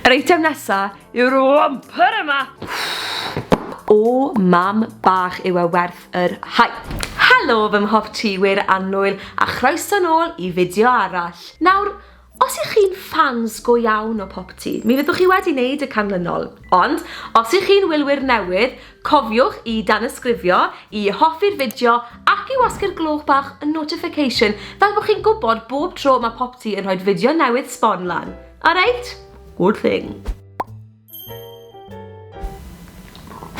Yr eitem nesa yw'r wampyr yma! O mam bach yw e werth yr hype! Helo fy mhob ti wir annwyl a chroeso nôl i fideo arall. Nawr, os y'ch chi'n ffans go iawn o Pop Ti, mi fyddwch chi wedi neud y canlynol. Ond, os y'ch chi'n wylwyr newydd, cofiwch i danysgrifio, i hoffi'r fideo ac i wasgu'r gloch bach notification fel bo chi'n gwbod bob tro ma Pop Ti yn rhoid fideo newydd sbon lan. Alright, good thing.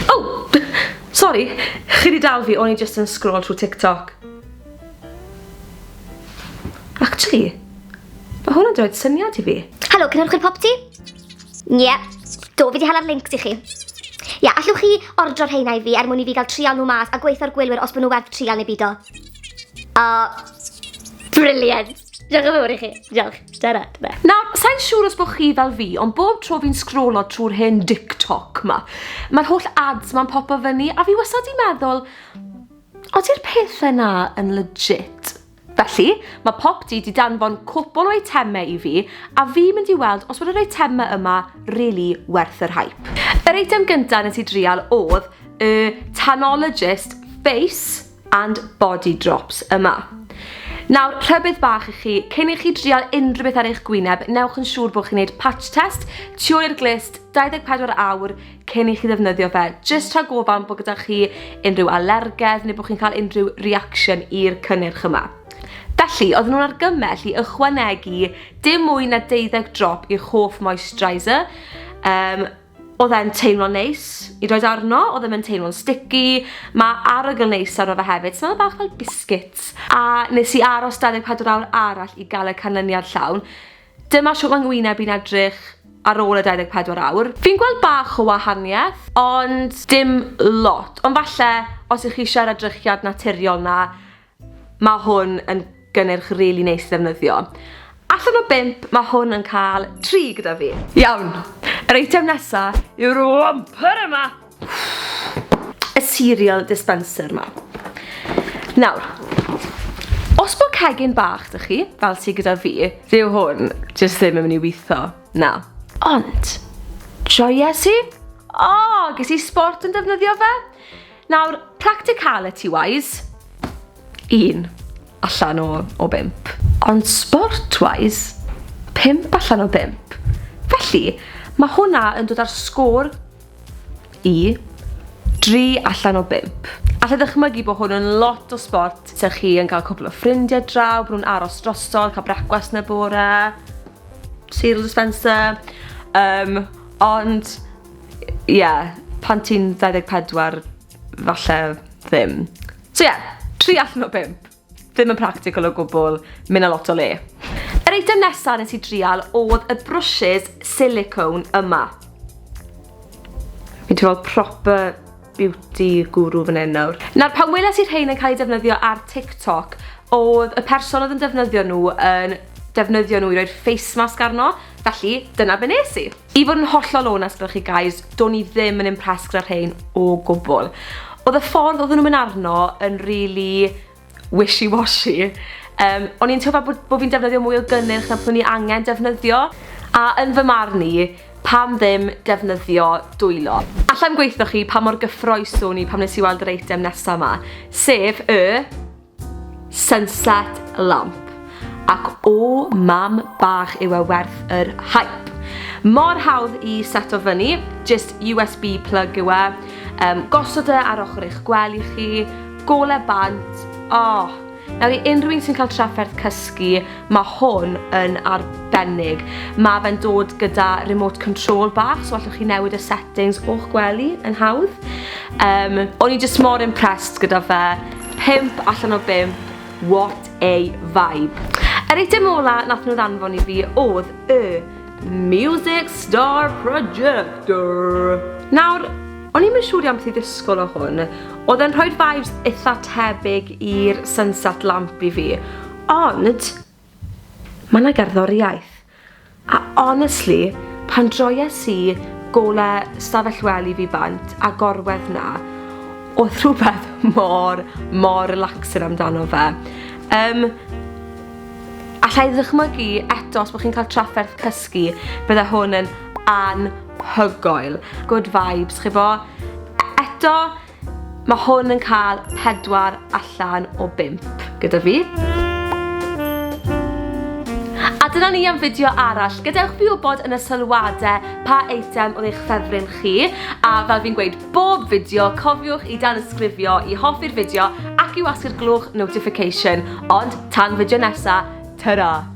Oh! Sorry, chi di dal fi, o'n i just yn scroll trwy TikTok. Actually, mae hwnna'n dweud syniad i fi. Helo, cynhyrchwyr popty? Ie, yeah. do, fi di hala'r link i chi. Ie, yeah, allwch chi ordro'r heina i fi er mwyn i fi gael trial nhw mas a gweithio'r gwylwyr os bod nhw werth trial neu bido. O, uh, briliant! Diolch yn fawr i chi. Diolch. Dyna, dyna. Nawr, sa'n siŵr os bod chi fel fi, ond bob tro fi'n sgrolo trwy'r hen TikTok ma, mae'r holl ads ma'n popo fyny, a fi wastad di meddwl, ody'r pethau na yn legit? Felly, mae pop di di danfon cwpl o eitemau i fi, a fi mynd i weld os bod yr eitemau yma really werth yr hype. Yr eitem gynta nes i drial oedd y Tanologist Face and body drops yma. Nawr, rhybydd bach i chi, cyn i chi drial unrhyw beth ar eich gwyneb, newch yn siŵr bod chi'n gwneud patch test tu ôl i'r glist 24 awr cyn i chi ddefnyddio fe, jyst rhag gofal bod gyda chi unrhyw alergedd neu bod chi'n cael unrhyw reaction i'r cynnyrch yma. Felly, oedden nhw'n argymell i ychwanegu dim mwy na deuddeg drop i'ch hoff moisturiser, um, Odd e'n teimlo'n neis i roid arno, odd e ddim yn teimlo'n sticky, ma' arogl neis arno fe hefyd, smell bach fel biscuits. A nes i aros 24 awr arall i gael y canlyniad llawn. Dyma shwt mae ngwyneb i'n edrych ar ôl y 24 awr. Fi'n gweld bach o wahaniaeth, ond dim lot. Ond falle os 'ych chi isie yr edrychiad naturiol 'na, Mae hwn yn gynnyrch rili neis i ddefnyddio. Allan o bump, mae hwn yn cael tri gyda fi. Iawn, yr eitem nesa yw'r wamper yma! Y cereal dispenser yma. Nawr, os bod cegin bach dych chi, fel sydd gyda fi, dyw hwn jyst ddim yn mynd i weithio, na. Ond, joies i? O, ges i sport yn defnyddio fe? Nawr, practicality wise, un allan o, o bump. Ond sport wise, pump allan o bump. Felly, mae hwnna yn dod ar sgôr i 3 allan o bump. Alla ddychmygu bod hwn yn lot o sport, se chi yn cael cwbl o ffrindiau draw, bod nhw'n aros drosodd, cael brecwast yn y bore, cereal dispenser, um, ond Ie, pan ti'n 24 falle ddim. So ie, tri allan o bump. Ddim yn practical o gwbl, myn' â lot o le. Yr eitem nesa nes i drial odd y brwshys silicone yma. Fi'n teimlo proper beauty guru fan hyn nawr. Nawr pan weles i rhein yn cael eu defnyddio ar TikTok, oedd y person oedd yn defnyddio nhw yn defnyddio nhw i roi'r face mask arno, felly dyna be nes i. I fod yn hollol onest gyda chi guys, do'n i ddim yn impressed gyda rhein o gwbl. Oedd y ffordd oedden nhw'n mynd arno yn rili wishy washy. Yym, o'n i'n teimlo bod bo' fi'n defnyddio mwy o gynnyrch na byddwn i angen defnyddio, a yn fy marn i, pam ddim defnyddio dwylo? Allai'm gweithio chi pa mor gyffroes o'n i pan nes i weld yr eitem nesa 'ma, sef y sunset lamp. Ac o mam bach yw e werth yr hype. Mor hawdd i seto fyny, jyst USB plug yw e, um, gosod e ar ochr eich gwely chi, Gole bant! Aww! Nawr i unrhyw un sy'n cael trafferth cysgu, mae hwn yn arbennig. Mae fe'n dod gyda remote control bach, so allwch chi newid y settings o'ch gwely yn hawdd. Um, o'n i just mor impressed gyda fe. Pimp allan o bimp, what a vibe. Yr eitem ola nath nhw ddanfon i fi oedd y Music Star Projector. Nawr, O'n i'm yn siŵr iawn beth i ddisgwyl o hwn. Oedd e'n rhoi'r vibes eitha tebyg i'r sunset lamp i fi. Ond, mae yna gerddoriaeth. A honestly, pan droies i gole stafell wely fi bant a gorwedd na, oedd rhywbeth mor, mor relaxing amdano fe. Um, allai ddychmygu eto os bod chi'n cael trafferth cysgu, bydde hwn yn an hygoel. Good vibes, chi bo? Eto, mae hwn yn cael pedwar allan o bimp gyda fi. A dyna ni am fideo arall. Gadewch fi wybod yn y sylwadau pa eitem oedd eich ffefryn chi. A fel fi'n gweud bob fideo, cofiwch i dan ysgrifio i hoffi'r fideo ac i wasgu'r glwch notification. Ond tan fideo nesa, ta-ra!